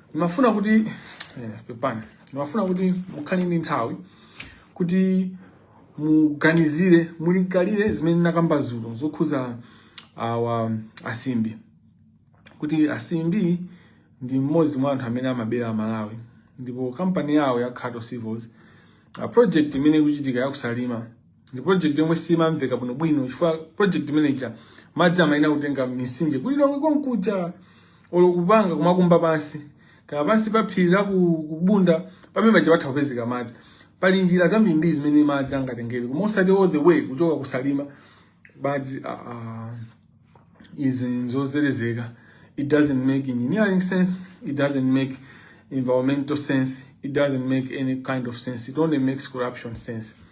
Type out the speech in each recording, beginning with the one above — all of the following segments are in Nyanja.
ndimafuna kuti eh, pepani ndimafuna kuti mukhale ndi nthawi kuti muganizire mulingalire zimene ndinakamba zulo zokhuza awa asimbi kuti asimbi ndi mmodzi mwa anthu amene amabera amalawi ndipo kampani yawo ya Kato Civils eh project imene ikuchitika yakusalima ndi project yomwe simamveka bwino bwino chifukwa project imeneyija madzi amayenera kutenga misinje ku Lilongwe konkuja olo kupanga kumakumba pansi kaya pansi pa phiri la ku- kubunda pamene paja patha kupezeka madzi pali njira zambirimbiri zimene madzi angatengere koma osati all the way kuchoka kusalima madzi ah, ah, izi nzozelezeka it doesn't make engineering sense it doesn't make environmental sense it doesn't make any kind of sense it only makes corruption sense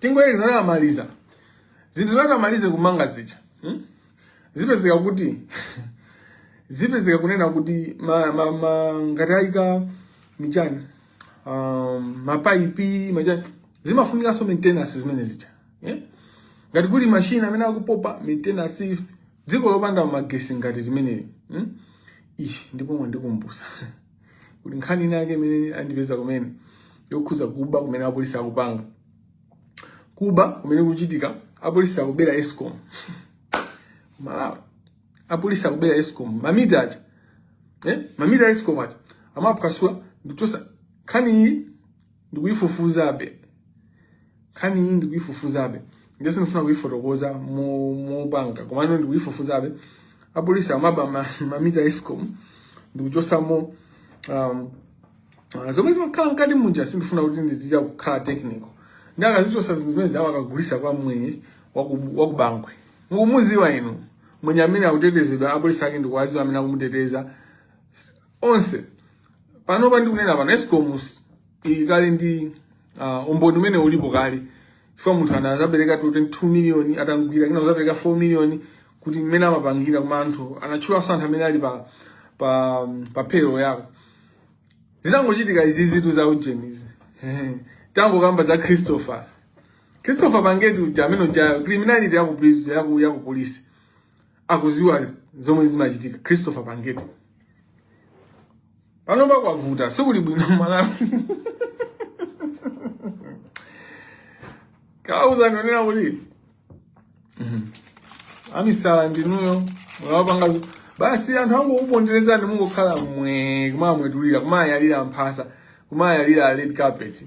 tingoyeza amaliza zinthu zimene amaliza kumanga zija hmm? zipezeka kuti zipezeka kunena kuti ma, ma, ma, ngati ayika machani um, mapaipi machani zimafunikanso maintenance zimene zija yeah? ngati kuli machine amene akupopa maintenance dziko lopanda magesi ngati limeneli hmm? ishi ndipo mwandikumbusa kuti nkhani ina yake imene andipeza kumene yokhuza kuba kumene apolisi akupanga kuba kumene kukuchitika apolisi akubera escom malawi apolisi akubera escom mamita aja eh? mamita a escom aja amaphwasula ndikuchosa nkhani iyi ndikuyifufuzabe nkhani iyi ndikuyifufuzabe ndiye sindifuna kuyifotokoza mo- mopanga komano ndikuyifufuzabe apolisi amaba ma- mamita a escom ndikuchosamo um, Ah, zomwe zimakhala mkati munja sindifuna kuti ndizichita kukhala technical ndiye akazichosa zinthu zimenezo akagulisa kwa mwenye waku- wakubangwe mukumuziwa inu mwenye amene akutetezedwa apolisi ake ndikuwaziwa amene akumuteteza onse panopa ndikunena pano escom ili kale ndi uh, umboni umene ulipo kale chifukwa munthu ana azapereka 22 million atamugwira wina kuzapereka 4 million kuti mmene amapangira koma anthu anatchulanso anthu amene ali pa pa pa payroll yako zinangochitika izi zinthu za ujeni izi tangokamba za christopher christopher pangeti uja ameneuja criminality yaku prison yaku yaku police akuziwa zomwe zimachitika Christopher Pangeti panopa kwavuta sikuli bwino Malawi kauza ndonena kuti mhm. amisala ndinuyo mwapanga basi anthu angokuponderezani ndi mungokhala mwe kumamwetulira kumawayalira mphasa kumawayalira red carpet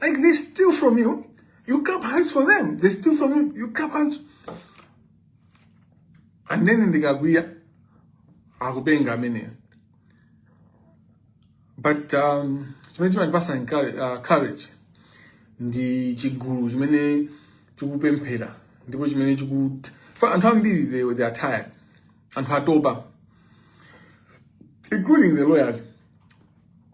Like they steal from you, you clap hands for them. They steal from you, you clap hands. And then ndikakwiya akupenga amene. But um, chimene chimandipasa uh, courage ndi chigulu chimene chikupemphera ndipo chimene chikuti anthu ambiri they, they are tired anthu atopa including the lawyers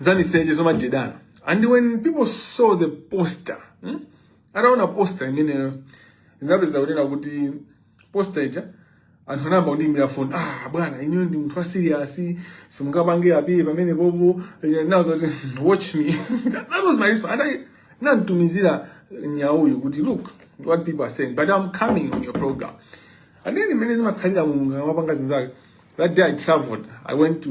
zamiseche zomajedana and when people saw the poster hmm? ataona poster imeneyo ndinapeza kunena kuti poster ija anthu anayamba kundiimbira foni ah bwana inuyo ndinu munthu wasiriyasi simungapange appear pamene popo nazo kuti watch me that was my response and ndinamtumizira Nyauyu kuti look what people are saying but i'm coming on your program and then imene zimakhalira mulungu amapanga zinthu zake that day i traveled i went to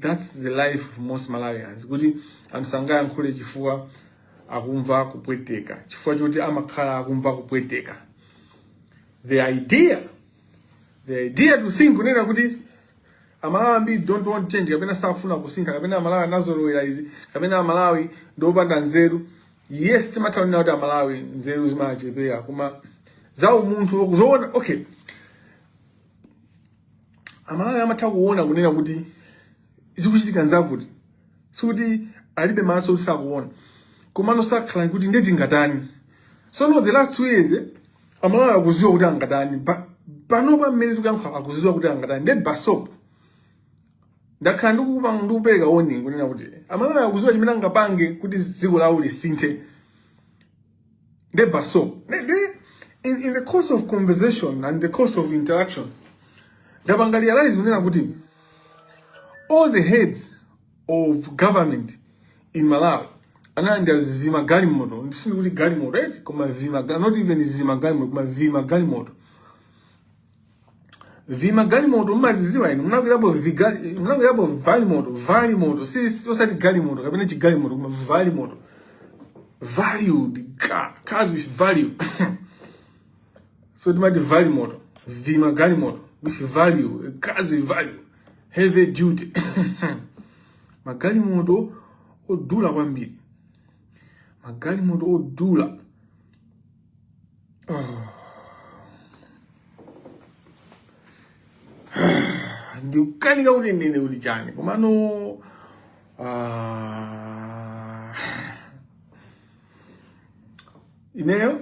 That's the life of most Malawians. Kuti anthu sangayankhule chifukwa akumva kupweteka. Chifukwa choti amakhala akumva kupweteka. The idea, the idea to think kunena kuti Amalawi ambiri don't want change kapena safuna kusintha kapena amalawi anazolowera izi kapena amalawi ndiopanda nzeru yes timatha kunena kuti amalawi nzeru zimachepa koma za umunthu zoona okay amalawi amatha kuona kunena kuti zikuchitika nzakuti sikuti alibe maso kuti sakuona komano zakhala kuti ndiye tingatani so no the last two years eh, amalawi akuziwa kuti angatani Pa- panopa mmene tikuyankhula akuziwa kuti angatani ndiye basop ndakhala ndikupa ndikupereka warning kunena kuti amalawi akuziwa chimene angapange kuti dziko lawo lisinthe Ndiye basop, in, in the course of conversation and the course of interaction, ndapanga realize kunena kuti all the heads of government in Malawi analandira zi- vima galimoto sindikuti galimoto eti koma vima not even zima galimoto koma vima galimoto vimagalimoto mumaziziwa inu munakwirapo vigali- munakwirapo valimoto valimoto si si- osati galimoto kapena chigalimoto koma valimoto value the car cars with value so timati valimoto vimagalimoto with value cars with value heavy duty magalimoto odula kwambiri magalimoto odula ndikukanika kuti ndinene kuti chani komano ah, ineyo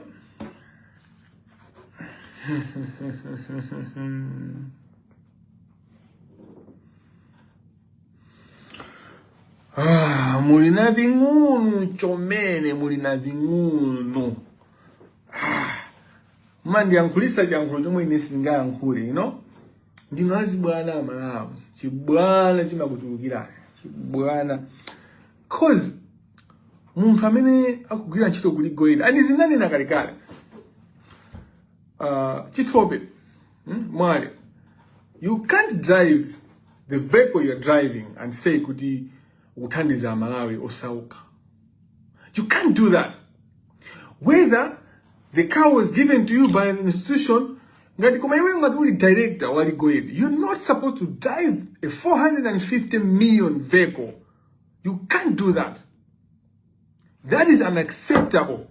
Ah, muli na ving'unu chomene muli na ving'unu Mmandiyankhulisa chiyankhulo chomwe ine sindingayankhule, you know? Ndinu azibwana a Malawi. Chibwana chimakuchulukirani. Chibwana. Cause munthu amene akugwira ntchito ku Legal Aid and izi ndinanena kalekale uh, Chithope hmm? Mwale you can't drive the vehicle you're driving and say kuti ukuthandiza amalawi osauka you can't do that whether the car was given to you by an institution ngati koma iwe ngati uli director wa legal aid you're not supposed to drive a 450 million vehicle you can't do that That is unacceptable.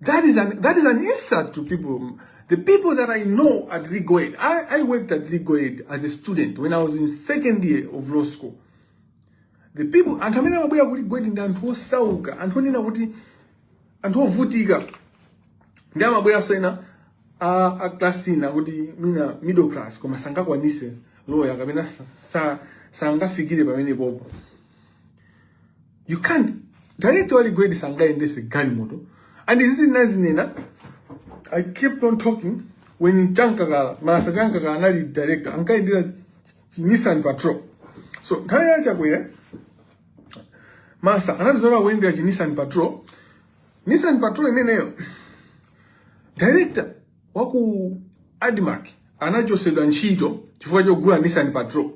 That is an that is an insult to people. The people that I know at Legal Aid, I, I worked at Legal Aid as a student when I was in second year of law school. The people anthu amene amabwera ku Legal Aid ndi anthu osauka, anthu onena kuti anthu ovutika ndi amabweranso ena a, a class ina kuti mwina middle class koma sangakwanise loya kapena sa- sa- sangafikire pamenepopo you can't director wa Legal Aid sangayendese galimoto and izi ndinazinena i kept on talking when Chamkakala Masa Chamkakala anali director ankayendera nissan patrol so nthawi ya chakwera Masa anapitiriza kuyendera chi nissan patrol nissan patrol imeneyo director wa ku ADMARC anachosedwa ntchito chifukwa chogula nissan patrol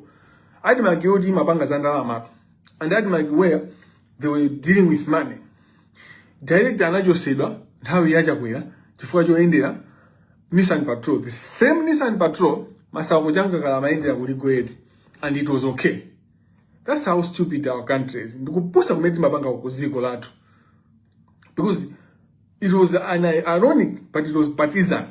ADMARC yoti imapanga za ndalamatu and ADMARC where they were dealing with money director anachosedwa nthawi ya chakwera chifukwa choyendera nissan patrol the same nissan patrol Masauko Chamkakala amayendera ku Legal Aid and it was okay That's how stupid our country is. Ndikupusa kumene timapanga kuziko lathu. Because it was an ironic, but it was partisan.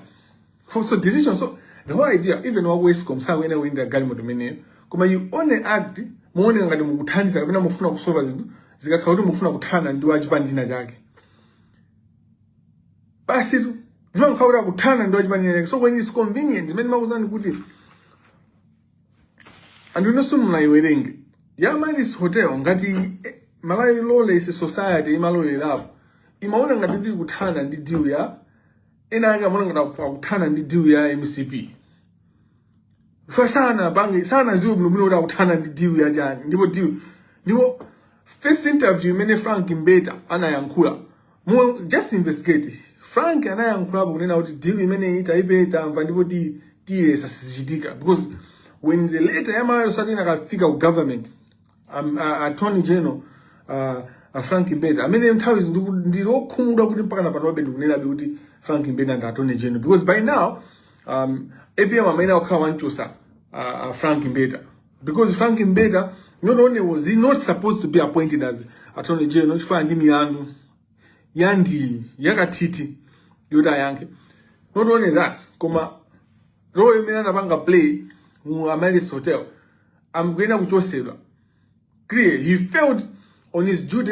For so decision, so the whole idea, even wa ESCOM, sawenera kuyendera galimoto imene, koma you only act, muone ngati mukuthandiza, kapena mufuna kusolva zinthu, zikakhala kuti mufuna kuthana ndi wachipani china chake. Basi tu, zimakhala kuti akuthana ndi wachipani china chake. So when it's convenient, m'mene ndimakuuzani kuti, anthu inenso ndinayiwerenga ya Amaryllis Hotel ngati eh, malawi lawless society imalolerapo imaona ngati kuti ikuthana ndi deal ya ena ake amaona ngati aku- akuthana ndi deal ya mcp chifukwa sanapange sanadziwe bwinobwino kuti akuthana ndi deal ya chani ndipo deal ndipo first interview imene Frank Mbeta anayankhula Mu just investigate. Frank anayankhulapo kunena kuti deal imeneyi taipe tamva ndipo ti tiyesa sizichitika because when the letter ya Malawi Society inakafika ku government um, uh, attorney general uh, uh, Frank Mbeta amene nthawi izi ndiku- ndili okhumudwa kuti mpaka napanobe ndikunenabe kuti Frank Mbeta ndi attorney general because by now um, APM amayenera kukhala wanchosa uh, uh, Frank Mbeta because Frank Mbeta not only was he not supposed to be appointed as attorney general chifukwa ndi milandu yandi yakathithi yoti ayankhe not only that koma role imene anapanga play mu Amaryllis Hotel akuyenera kuchosedwa clear he failed on his duty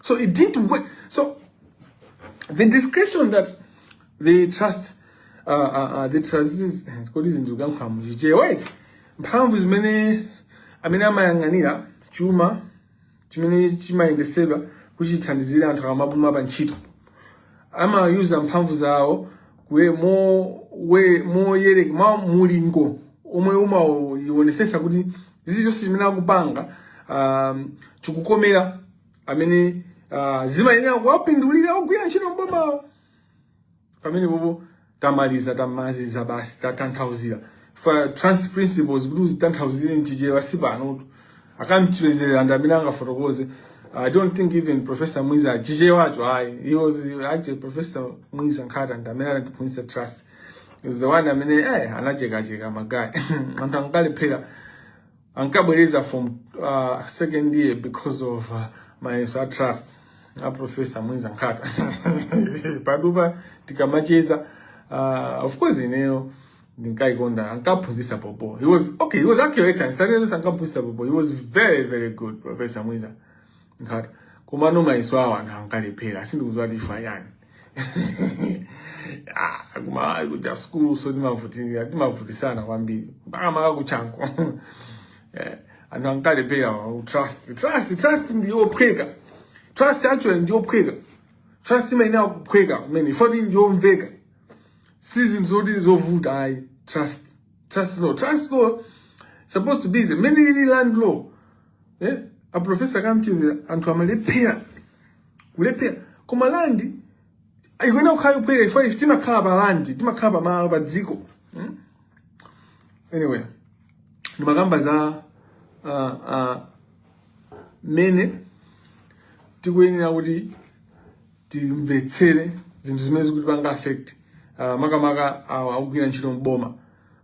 So it didn't work. So the discretion that the trust uh, uh, uh, the trustees kodi eh, zinthu kuyankhula muchichewa eti mphamvu zimene amene amayang'anira chuma chimene chimayendesedwa kuti chithandizire anthu akamapuma pa ntchito amayuza mphamvu zawo kuye mo we moyere mwa mulingo omwe umaonesesa kuti zizi zonse zimene akupanga um, chikukomera amene uh, zimayenera kuwapindulira ogwira ntchito m'bomawo pamenepopo tamaliza tamaziza basi tatanthauzira ma trust principles kuti uzitanthauzire mchichewa si panotu a Kamchedzera ndi amene angafotokoze i don't think even professor mwiza chichewacho ayi he was actually professor mwiza nkhata ndi amene anatiphunzitsa trust he was the one amene eh anachekacheka magaya anthu ankalephera ankabwereza from uh, second year because of uh, mayeso a trust a professor mwiza nkhata patupa tikamacheza uh, of course ineyo ndinkaikonda ankaphunzitsa bhobho he was okay he was actually excellent sanenso ankaphunzitsa bhobho he was very very good professor mwiza nkhata komano mayeso awo anthu ankalephera sindikuziwa chifukwa chani ah, koma ayi kuti asukulu so timavutirira timavutisana kwambiri mpaka maka ku Chanco eh, anthu ankalephera trust trust trust ndiyophweka trust actually ndiyophweka trust imayenera kuphweka kumene foti ndiyomveka si zinthu zoti nzovuta ayi trust trust law trust law supposed to be mmene ili land law eh a professor Kamchedzera anthu amalephera kulephera koma land ikuyenera kukhala yophweka ifo ife timakhala pa land timakhala pa malo pa dziko hmm? anyway ndimakamba za uh, uh, mene tikuyenera kuti timvetsere zinthu zimene zikutipanga affect uh, makamaka awa akugwira ntchito mboma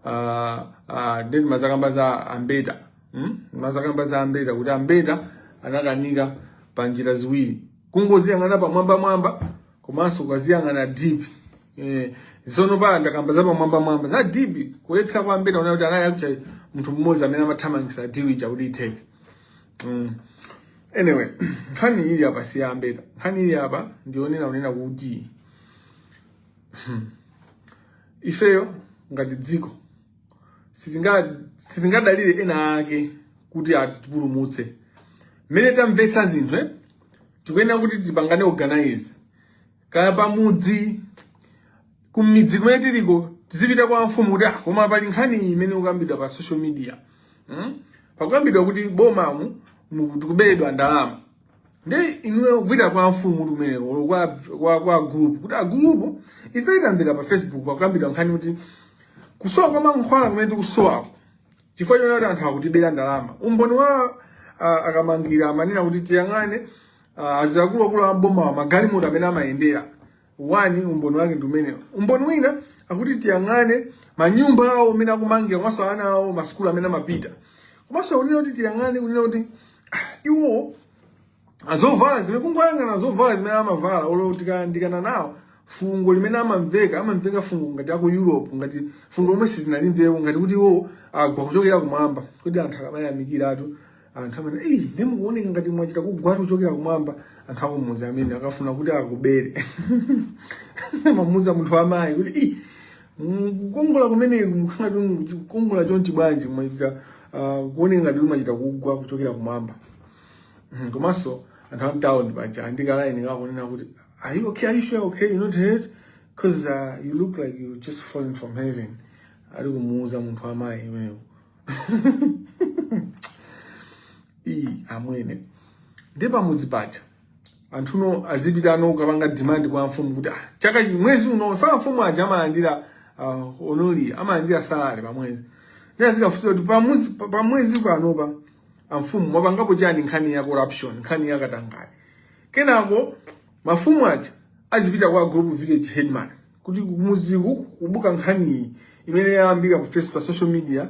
uh, uh, ndimazakamba za ambeta hmm? mazakamba za ambeta kuti ambeta anakanika pa njira ziwiri kungoziyang'ana pamwamba mwamba komanso ukaziyang'ana deep eh, tsono pa ndakamba za pamwamba mwamba za deep kulephera kwa ambeta unaona kuti anali akucha munthu mmodzi amene amathamangisa deal ija kuti itheke mm. anyway nkhani ili apa si ya ambeta nkhani ili apa ndi yonena unena kuti hmm, ifeyo ngati dziko sitingadalire ena ake kuti atipulumutse mmene tamvetsa zinthu eh? tikuyenera kuti tipangane organize kaya pamudzi kumidzi kumene tiliko tizipita kwa mfumu kuti ah, koma pali nkhani imene ukambidwa pa social media hmm? pakukambidwa kuti mbomamu tikubedwa ndalama ndi inuyo kupita kwa mfumu kumeneko kwa, kwa, kwa group kuti agulupu ife tikamvera pa facebook pakukambidwa nkhani kuti kusowa kwa mankhwala kumene tikusowako chifukwa choti anthu akutibera ndalama umboni wa uh, a kamangila amanena kuti tiyang'ane Ah, akuluakulu a bomawa magalimoto amene amayendera one umboni wake ndi umenewo umboni wina akuti tiyang'ane manyumba awo amene akumangira komanso ana awo masukulu amene amapita komanso kunena kuti tiyang'ane kunena kuti ah, iwo azovala zimene kungoyang'ana zovala zimene amavala olo tikayandikana nawo fungo limene amamveka amamveka fungo ngati aku europe ngati fungo lomwe sitinalimvepo ngati kuti iwo agwa kuchokera kumwamba kodi anthu akamayamikiratu anthu amene eyi ndi mukuoneka ngati mwachita kugwatu kuchokera kumwamba anthu akumuzi amene akafuna kuti akubere amamuuza munthu wamayi kuti i kukongola kumene mukhala kukongola chonchi bwanji mwachita ah, kuoneka ngati mwachita kugwa kuchokera kumwamba hmm, komanso anthu amtawuni paja ali ndi kalaini kakunena kuti are you okay are you sure okay you not hurt because uh, ah, you look like you just falling from heaven ali kumuuza munthu wamayi imeyo iyi amwene ndi pamudzi paja anthuno azipitano kukapanga demand kwa mfumu kuti ah, chaka chi mwezi uno si amfumu aja amalandira uh, honori amalandira salary pa mwezi ndi azikafunsa kuti pa mwezi pa- pa mwezi panopa amfumu mwapangapo chani nkhani ya corruption nkhani ya katangale kenako mafumu aja azipita kwa group village headman kuti kumuziku kubuka nkhaniyi imene yayambika ku Facebook social media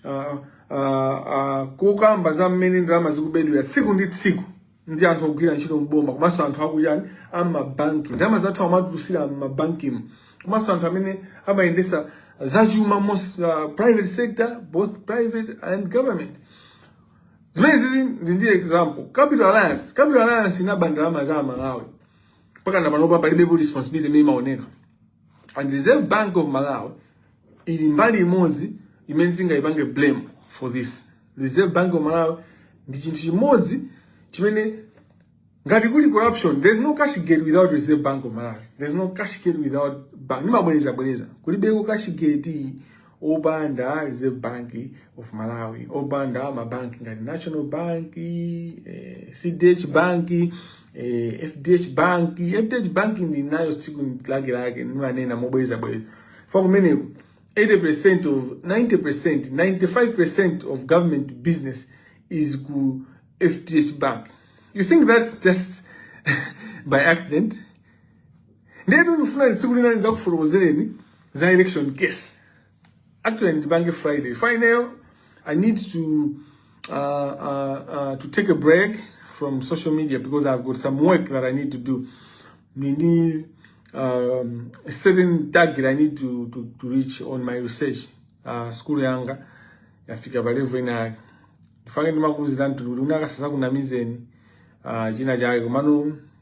uh, uh, uh, kokamba za mmene ndalama zikubedwera tsiku ndi tsiku ndi anthu ogwira ntchito mboma komanso anthu akuchani amabanki ndalama zathu amatulusira mmabankimu komanso anthu amene amayendesa zachuma most uh, private sector both private and government zimene zizi ndi ndi example capital alliance capital alliance inaba ndalama za amalawi mpaka na panopa palibepo responsibility imene imaoneka and reserve bank of malawi ili mbali imodzi imene tingayipange blame for this reserve bank of malawi ndi chinthu chimodzi chimene ngati kuli corruption there's no cash gate without reserve bank of malawi there's no cash gate without bank ndimabwerezabwereza kulibeko cash gate opanda Reserve Bank of Malawi, opanda mabanki ngati National Bank, eh, CDH Bank, eh, FDH Bank. FDH Bank ndi nayo tsiku lake lake nimanena mobweza bweza. Fa kumeneko 80% of 90%, 95% of government business is ku FDH Bank. You think that's just by accident? ndiye ndikufuna tsiku lina ndidzakufotokozereni za election case actually ndipanga friday final i need to uh, uh, uh, to take a break from social media because i've got some work that i need to do nini um, a certain target i need to, to, to reach on my research uh, school yanga yafika pa level inayake nde mwake ndimakuuziranitu kuti ndingadzakunamizeni uh, china chake komano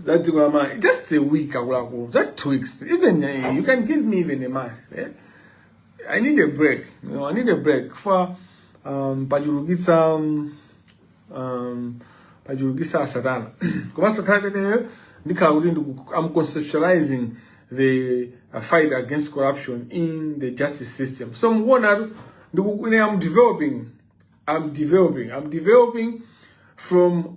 That's dziko la Malawi. Just a week akuluakulu. Just two weeks. Even uh, you can give me even a month. Eh? I need a break. You know, I need a break for um, pachulukitsa um, um, pachulukitsa satana koma satana imeneyo ndikhala kuti I'm conceptualizing the uh, fight against corruption in the justice system so mukuonatu ndikuine I'm developing I'm developing I'm developing from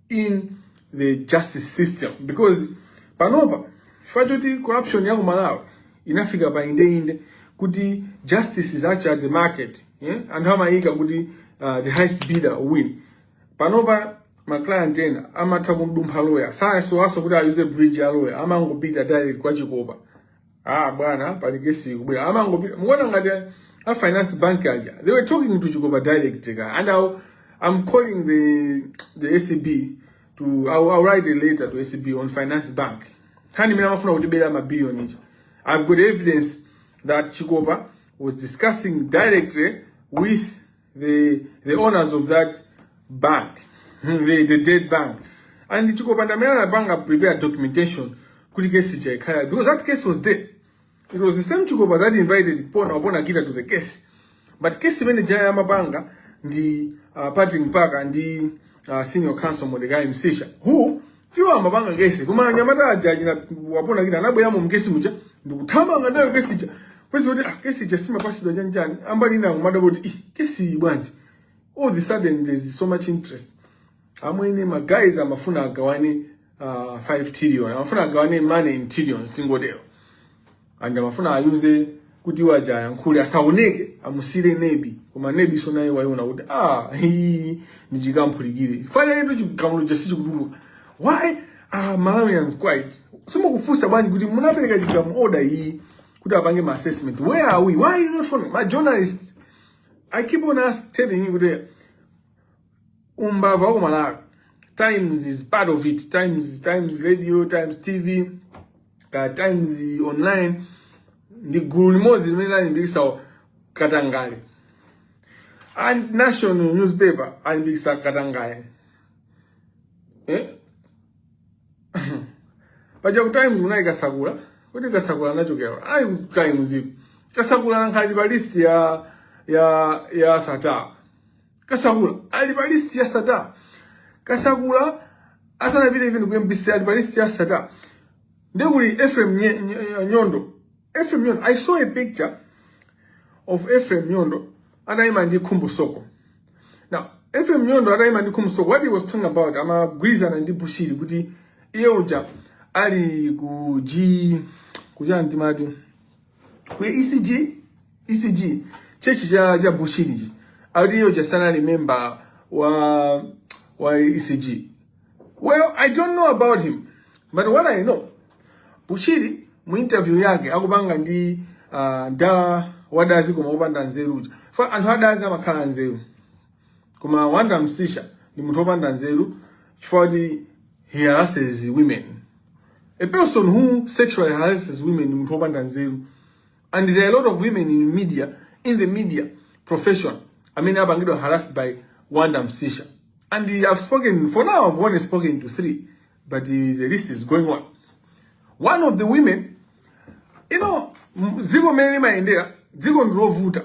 in the justice system because panopa chifukwa choti corruption ya ku malawi inafika pa indeinde kuti justice is actually at the market yeah? anthu amayika kuti uh, the highest bidder win panopa ma client ena amatha kumdumpha loya sakusowanso kuti ayuze bridge ya loya amangopita direct kwa chikopa Ah bwana, pali kesi kubwera. Amangopita. Muona ngati a finance bank aja. They were talking to Chikopa direct ka. And I'll, I'm calling the the ACB to I'll, I'll write a letter to ACB on finance bank. Kani mina mafuna kutibera ma billion ichi. I've got evidence that Chikopa was discussing directly with the, the owners of that bank, the, the dead bank. And Chikopanda Mera Bank prepared documentation kuti case chaikhala because that case was there. It was the same Chikopa that invited Pona Obona Gita to the case. But case manager ya mabanga ndi uh, Patrick Mpaka ndi uh, senior counsel Mordecai Msisha who Iwo amapanga kesi. Koma anyamata aja achina Wapona Kita anabwera mu kesi muja ndikuthamanga nayo kesi ija. Kwezi kuti ah kesi ija simapatsidwa chanjani. Ambali na kumadabwa kuti ih kesi bwanji. All of a sudden there is so much interest. Amwene ma guys amafuna agawane uh, 5 trillion. Amafuna agawane money in trillions tingotero. and amafuna ayuze kuti iwo aja ayankhule asaoneke amusiire nebi koma nebinso naye waiona kuti ah iyi ndi chikamphulikire ifa ndiyetu chigamulo chake sichikutuluka why are malawians quiet simukufunsa bwanji kuti munapereka chigamu order iyi kuti apange ma assessment where are we why are you not following my journalist i keep on ask telling you kuti umbava wa ku malawi times is part of it times times radio times tv ka times online ndi gulu limodzi limene lalimbikisa katangale and national newspaper alimbikisa katangale eh? paja ku times kunali kasakula kuti kasakula anachokera kuti ku times ipo kasakula anali pa list ya ya ya sattar kasakula ali pa list ya sattar kasakula asanapite even ku mbc ali pa list ya sattar ndiye kuli ephraim Nye- Nye- nyondo ephraim nyondo i saw a picture of ephraim nyondo atayima ndi khumbo soko now ephraim nyondo atayima ndi khumbo soko what he was talking about amagwirizana ndi bushiri kuti iye uja ali ku g kuchani timati ku ECG ECG chechi cha cha Bushiri akuti iye uja sanali member wa ECG well I don't know about him but what I know Bushiri mu interview yake akupanga ndi uh, ndala wadazi koma wopanda nzeru uja fa anthu adazi amakhala anzeru koma Wonder Msiska ndi munthu opanda nzeru chifukwa he harasses women a person who sexually harasses women ndi munthu opanda nzeru and there are a lot of women in media in the media profession amene apangidwa harassed by Wonder Msiska and i've spoken for now i've only spoken to three but uh, the list is going on one of the women you know m- dziko mmene limayendera dziko ndilovuta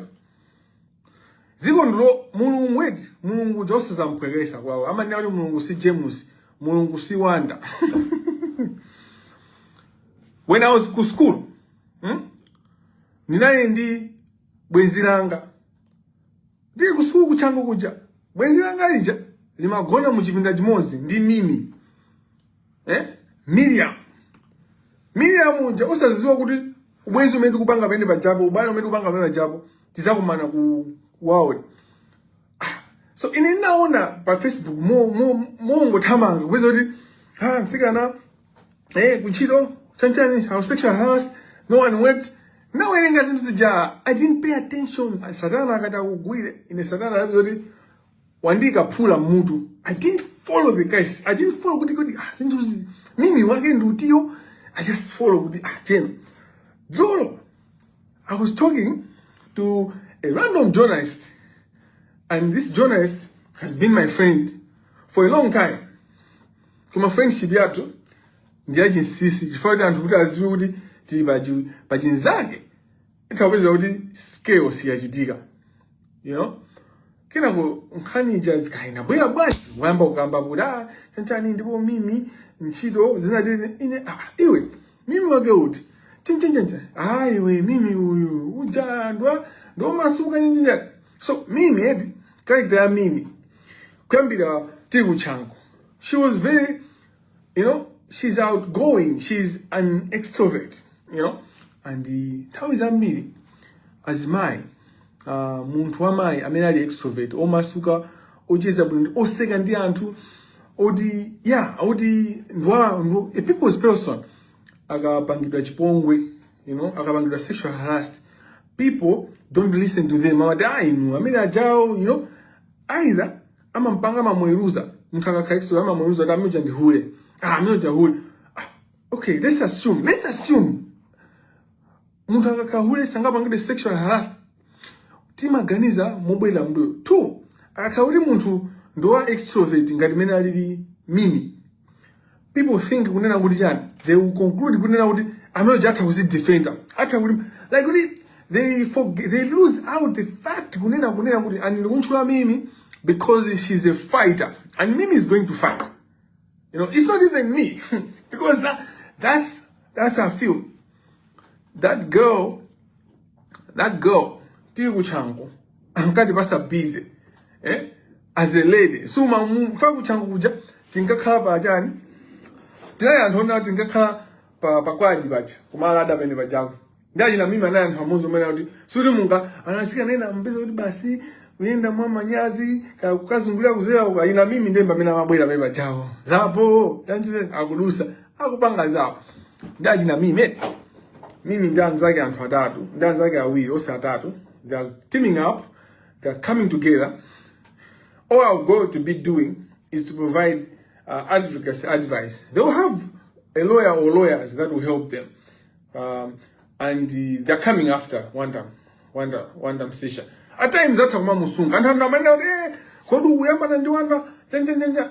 dziko ndi la mulungu eti mulungu uja osazamupweketsa kwawo amanena kuti mulungu si james mulungu si Wonder when i was ku school hmm? ndinali ndi bwenzi langa ndili ku school ku Chanco kuja bwenzi langa lija limagona mu chipinda chimodzi ndi mimi eh? Miriam Miriam uja osaziziwa kuti ubwezi umene tikupanga pamene pajapo ubale umene tikupanga pamene pajapo tizakumana ku world so ine ndinaona pa facebook mongothamanga kupeza kuti ha msikana eh kuntchito chanchani how sexually harassed no one wept ndawerenga zinthu zija i didn't pay attention satana akati akugwire ine satana anapeza kuti wandiika phula mmutu i didn't follow the guys i didn't follow kuti kodi ah, zinthu zi- mimi wake ndi utiyo i just follow kuti ah, you know dzulo i was talking to a random journalist and this journalist has been my friend for a long time koma friendship yathu ndi yachinsisi chifukwa choti anthu atati aziwe kuti tili pachi- pachinzake itha kupezeka kuti scale siyachitika you know kenako nkhani ija kaya inabwera bwanji wayamba kukamba kuti ah chanchani ndipo mimi ntchito zinatere ine ah, iwe mimi wake uti chinchinchinchin ah iwe mimi uyu uja ndwa ndi omasuka nyinyinya so mimi edi character ya mimi kuyambira tili ku Chanco she was very you know she's outgoing she's an extrovert you know and uh, nthawi zambiri azimayi uh, munthu wamayi amene ali extrovert omasuka ocheza bwino oseka ndi anthu oti yeah oti ndwa ndwa- a people's person akapangidwa chipongwe you know akapangidwa sexually harassed people don't listen to them amati ah inu amene ajawa you know either amampanga amamuweruza munthu akakhala ekso amamuweruza kuti amene uja ndi hule ah amene uja hule ah, okay let's assume let's assume munthu akakhala hule sangapangidwe sexual harassment timaganiza mobwerera mbuyo two akakhala kuti munthu ndi wa extrovert ngati mmene alili Mimi people think kunena kuti chani they will conclude kunena kuti amene uja atha kuzidefenda atha kuti like kuti they forget, they lose out the fact kunena kunena kuti and ndikumutchula Mimi because she's a fighter and Mimi is going to fight you know it's not even me because that, that's that's how I feel that girl that girl tili ku Chanco ankati pasa busy eh as a lady so ma fa ku Chanco kuja tinkakhala pa chani tinali anthu ona tinkakhala pa pa kwaji paja kumala ada pene pajapo ndi achina Mimi anaye anthu amuzo mwina kuti suri munga anasika nena mbeza kuti basi ukuyenda mwa manyazi ka kukazungulira kudzera uka achina Mimi ndemba mena mabwera pene pajapo zawo ya njee akudutsa akupanga zawo ndi achina Mimi Mimi ndi anzake anthu atatu ndi anzake awiri onse atatu they are teaming up they are coming together all I'm going to be doing is to provide uh, advocacy advice they will have a lawyer or lawyers that will help them um, and uh, they are coming after Wanda Wanda Wanda Msisha at times atha kumamusunga anthu anthu amanena kuti eh, kodi ukuyambana ndi Wanda tententenja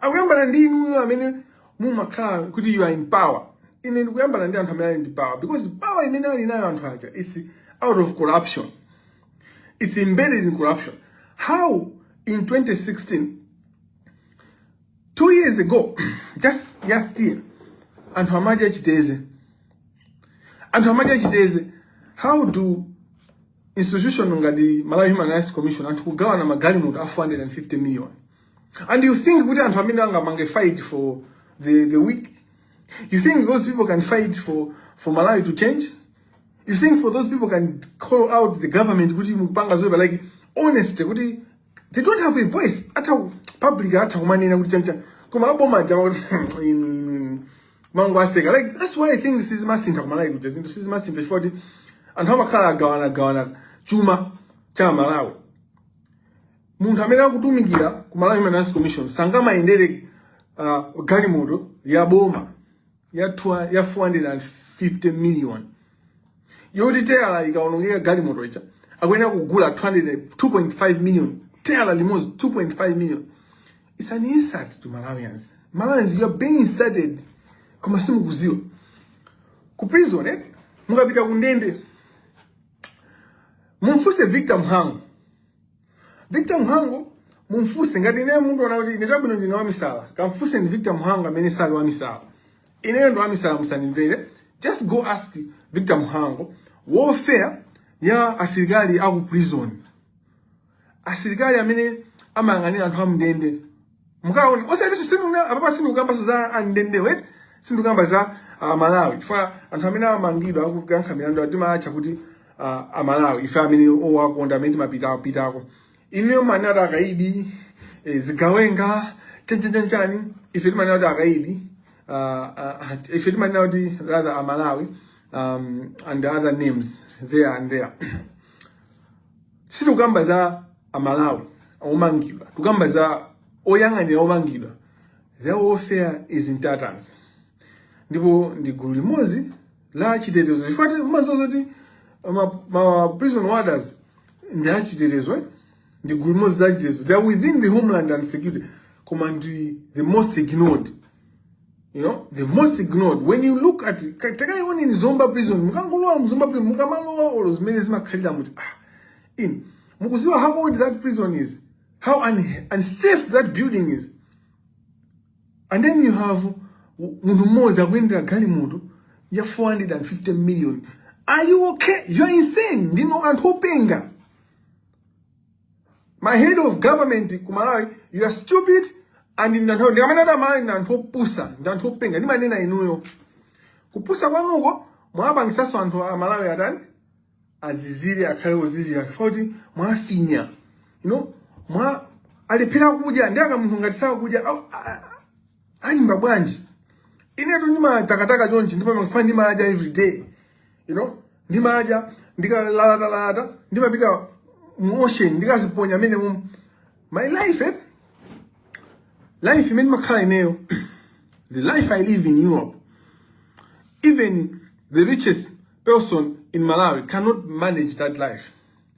akuyambana ndi inuyo amene mumakhala kuti you are in power ine ndikuyambana ndi anthu amene ali in power because power imene ali nayo anthu aja is out of corruption it's embedded in corruption how in 2016 two years ago just last year anthu amadya chiteze anthu amadya chiteze how do institution ngati Malawi Human Rights Commission anthu kugawana magalimoto a 450 million And you think kuti anthu amenewa angapange fight for the, the weak? You think those people can fight for, for Malawi to change? You think for those people can call out the government kuti mukupanga zoipa like honestly kuti they don't have a voice a public atha kumanena kuti chani koma aboma aja amangowaseka like that's why things sizimasintha ku Malawi kuja zinthu sizimasintha chifukwa choti anthu amakhala agawana agawana chuma cha Malawi munthu amene akutumikira ku Malawi Human Rights Commission sangamayendere uh, galimoto ya boma ya, twa, ya 450 million yoti teyala ikaonongeka galimoto ija akuyenera kugula 2.5 million teyala limodzi 2.5 million it's an insult to Malawians Malawians you are being insulted koma simukuziwa ku prison eh? mukapita kundende mumfuse Victor Mhango Victor Mhango mumfuse ngati ine mundiona kuti ndichabwino ndine wamisala kamfuse ndi Victor Mhango amene sali wamisala ineyo ndi wamisala musanimvere just go ask Victor Mhango welfare ya asilikali aku prison asilikali amene amayang'anira anthu amndende mukaone osayeneso sinduna apapa sindikukambaso za andende wait sindikukamba za uh, amalawi chifukwa anthu amene amangidwa akuyankha milandu timawatcha kuti uh, amalawi ife amene owakonda amene timapita pitako ineyo amanena kuti akaidi eh, zigawenga chanchanchanchani ife timanena kuti akaidi uh, uh, ife timanena kuti rather amalawi um, and other names there and there sitikukamba za amalawi omangidwa tikukamba za oyang'anira omangidwa their welfare is in tatters ndipo ndi gulu limodzi la chitetezo chifukwa timaziwa zoti ma, ma prison warders ndi achitetezo eh? ndi gulu limodzi la chitetezo they are within the homeland and security koma ndi the most ignored You know, the most ignored. When you look at it, takaioneni Zomba prison. Mukangolowa mu Zomba prison, mukamalowa olo zimene zimakhalira muti. Ah, in. Mukuziwa how old that prison is. How un unsafe that building is. And then you have munthu mmodzi akuyendera galimoto ya 450 million. Are you okay? You are insane. Ndinu anthu openga. ma head of government ku malawi you are stupid and ndi anthu ndikamanena kuti amalawi ndi anthu opusa ndi anthu openga ndimanena inuyo kupusa kwanuko mwapangisanso anthu a malawi atani azizire akhale ozizira chifukwa kuti mwafinya you know mwa alephera kudya ndiye kamunthu ngati sakudya au- a- a- alimba bwanji inetu ndimatakataka chonchi ndipo mafani ndimadya every day you know ndimadya ndikalalatalalata ndimapita mu ocean ndikaziponya mmenemo my life eh? life imene ndimakhala ineyo the life i live in europe even the richest person in malawi cannot manage that life